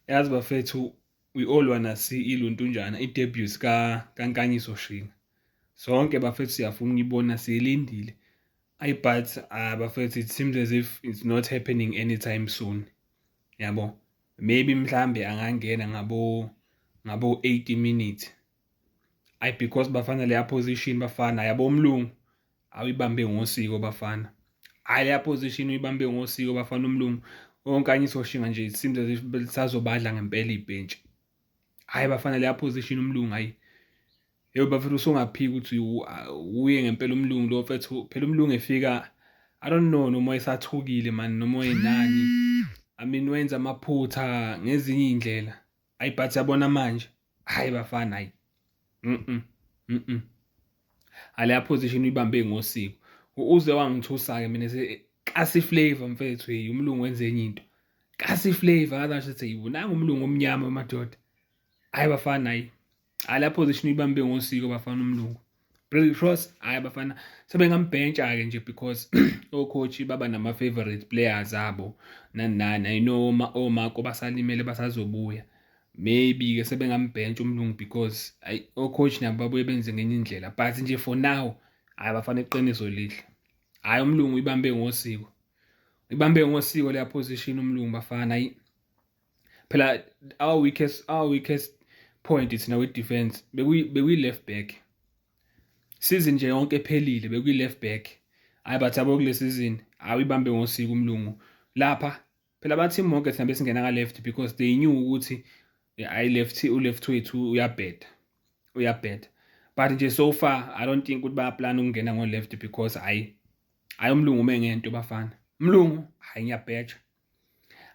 yazi bafethu we all wanna see iluntunjana i-debut ka kankanyiso shina sonke bafethu siyafuna ukuyibona siyilindile ayi but uh, bafethu it seems as if it's not happening anytime soon yabo maybe mhlambe angangena ngabo ngabo 80 minutes ayi because bafana leya position bafana yabo umlungu awuyibambe ngosiko bafana hayi leya position uyibambe ngosiko bafana umlungu onkanye isoshinga nje it seems as if lisazobadla ngempela ibhentshi hayi bafana leya position umlungu hayi yebo bafethu usungaphika ukuthi uye ngempela umlungu lo mfethu phela umlungu efika i don't know noma esathukile mani noma enani i mean wenza amaphutha ngezinye iy'ndlela ayi but yabona manje hayi bafana hayi mhm mhm aleya position uyibambe ngosiko uze wangithusa ke mina se kasi flavor mfethu hey umlungu wenze enye into kasi flavor akasho ukuthi yibona umlungu omnyama madoda hayi bafana hayi hayi la position uyibambe ngosiko bafana umlungu Brady Cross hayi abafana sebengambhentsha-ke nje because ocoach baba nama-favorite players abo nani nani i know omako basalimele basazobuya maybe-ke sebengambhentsha umlungu because ayi ocoach nabo babuye benze ngenye indlela but nje for now hhayi bafana iqiniso lihle hhayi umlungu ibambe ngosiko ibambe ngosiko leya position umlungu bafana ayi phela our weakest our weakest point thina we defense bekuyi bekuyi left back season nje yonke ephelile bekuyi left back hayi bathi abo kule season awuyibambe ngosiko umlungu lapha phela bathi monke thina besingena ka left because they knew ukuthi ayi left u left wethu uyabheda uyabheda but nje so far i don't think ukuthi bayaplan ukungena ngo left because hayi hayi umlungu uma ngento bafana umlungu hayi ngiyabheja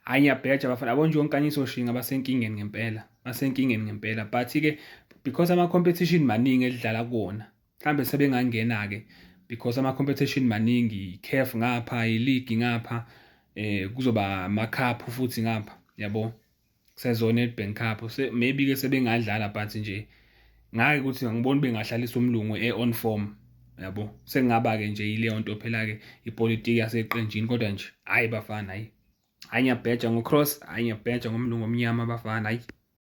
hayi ngiyabheja bafana yabo nje onkanyiso shinga basenkingeni ngempela basenkingeni ngempela but-ke because ama-competition maningi edlala kuwona mhlawumbe sebengangena-ke because ama-competition maningi i-caf ngapha iligi ngapha um kuzoba amakhaphu futhi ngapha yabo sezona Nedbank Cup se maybe ke sebengadlala but nje ngake ukuthi ngibona bengahlaliswa umlungu e-on form yabo sengaba ke nje yileyo nto phela ke ipolitiki yaseqenjini kodwa nje hayi bafana hayi hayi ngiyabheja ngocross hayi ngiyabheja ngomlungu omnyama bafana hayi